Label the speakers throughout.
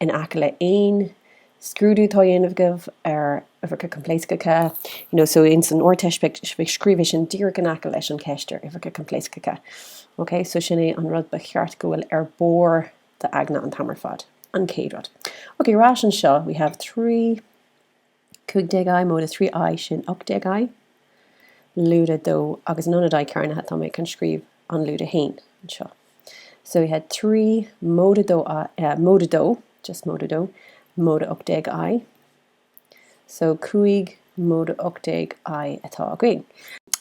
Speaker 1: in aice le aon scrúdú atá a dhéanamh agaibh ar uimhreacha coimpléascacha, you know, so ins an Ardteist b'fhéidir scríobh é sin díreach in aice leis an cheist ar uimhreacha coimpléascacha, ok, so sin é an rud ba cheart go bhfuil ar barr d'aigne an t-am ar fad, an chéad rud. Ok, ar ais anseo, we have trí. 15I móide 3 I sin 18I, lúide 2, agus in ionad I cearnaithe tá mé chun scríobh an lúide 1 anseo. So we have 3 móide, móide 2, just móide 2, móide 18I. So 5 móide 18I atá againn.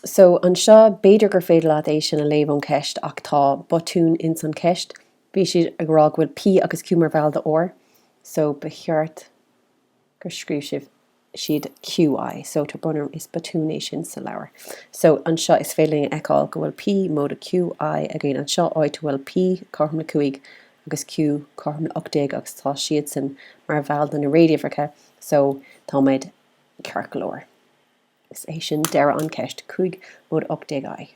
Speaker 1: So anseo b'fhéidir gur féidir leat é sin a léamh ón cheist ach tá botún ins an cheist. Bhí siad ag rá go bhfuil P agus Q mar bhall de R. So ba cheart. gur scríobh sibh, siad QI, so tá botún ann is botún é sin sa leabhar. So anseo is féidir linn a fheiceáil go bhfuil P móide QI againn anseo, áit a bhfuil P cothrom le 5 agus Q cothrom le 18 agus tá siadsan mar bhall de na réaduimhreacha so táimid ceart go leor. Is é sin deireadh an cheist, 5 móide 18 i.